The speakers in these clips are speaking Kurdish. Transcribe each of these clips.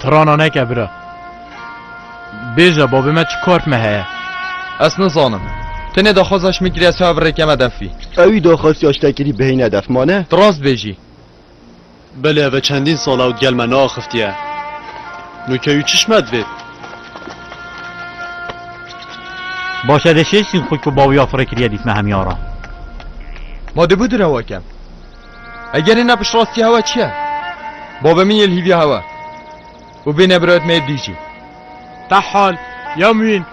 Tirana neke bira. Bêje babê me çi kort me heye. Ez nizanim. Tenê daxwaza şmî kiriya çav rêkeme defî. Ewî daxwasiya ştekirî bihêne def mane? Ti rast bêjî. Belê eve çendîn sal ewt gel me neaxiftiye. No keyû çi şme divêt? Baş edê şêşîn xwe ku bawî ya firê kiriye dît me hemî ara. Ma dibû di rewa kem. Eger hêna piştirastiya hewa çi ye? Bavê min yê li hîviya hewa û bê nebirayet me yê dî jî. Tehal, ya mûyîn,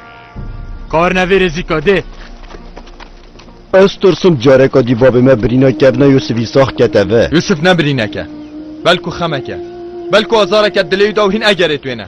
karine vê rêzîka dê. Ez tirsim careka dî bavê me birîna kevna Yûsifî sax kete vi. Yûsif ne birînek e, belku xemek e. Belku azareke dilê wî da û hîn egerê twêne.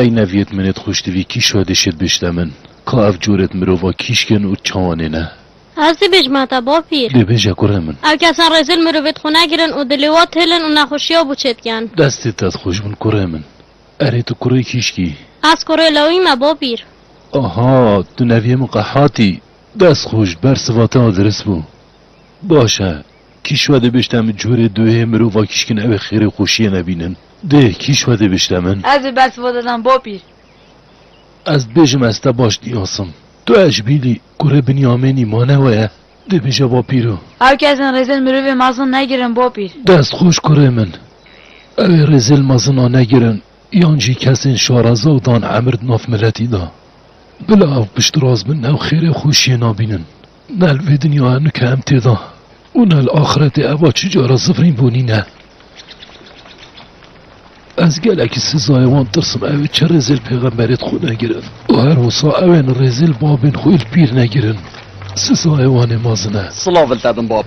Ey neviyêt min êd xwişt vî kîş ve dişêd bişte min ka ev corêd mirova kîş kên û çawan ê ne. Ez tî bêj ma te bapîr. Dê bêje kurê min. Ew kesan rêzil mirovêd xwe negirin û dilê wan têlin û nexweşiya bo çêd gen. Destêd te dixweş bin kurê min. Erê tu kurê kîş kî. Ez kurê lawî me bapîr. Aha tu neviyê min qehatî. Dest xweş bersiva te dirist bo. Baş e. Kî şwedê bişte min curê duhê mirova kîşkin ewê xêrê xoşiyê nebînin. Dê kî şwedê bişte min. Ez bi bersiva te dem bapîr. Ez dibêjim ez te baş diyasim. Tu Eşbîlî, kurê Binyamênî ma ne we ye? Dê bêje bapîro. Ew kesên rêzên mirovê mezin negirin bapîr. Dest xoş kurê min. Ewê rêzêl mezina negirin yan jî kesên şaraza û dan emir di nav miletî de. Bila ew piştras bin ew xêrê xoşiyê nabînin. Ne li vê dinyaya nika em tê de û ne li axretê eva çi cara zifrîn bûnî ne. Ez gelekî sizayê wan tirsim ew ê çi rêzê li pêxemberê xwe negirin û her wisa ew ê li rêzê li babên xwe ê li pîr negirin. Sizayê wan ê mezin e. Silav li te bin bab.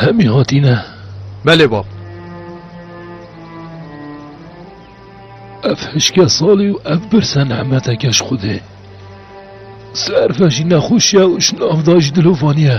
Hemî hatîne. Belê bab. Ev hişke salî û ev birse nehmeteke ji Xwedê. Serve jî nexweşiya û ji navda jî dilovanî ye.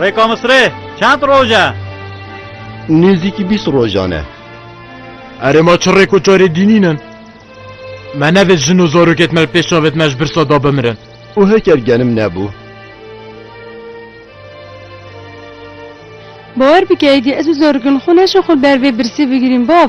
Rê Komisrê, çend roj e? Nêzîkî bîst rojan e. Erê ma çi rêk û çarê dînînin? Me nevêt jin û zarokêt me li pêş çavêt me ji birsa da bimirin. Û heker genim nebû. Bawer bike êdî ez û zarokên xwe neşin xwe li ber vê birsî bigirîn bav.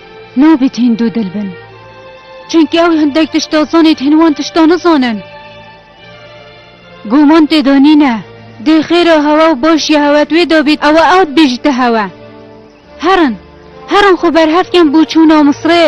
Nabît hîn dûdil bin. Çunkî ew hindek tişta zanît hîn wan tişta nizanin. Guman tê de nîne. Dê xêra hewe û başiya hewe di wê de bît ew ê ew dibêjîte hewe. Herin, herin xwe berhev kin bû çûna Misirê.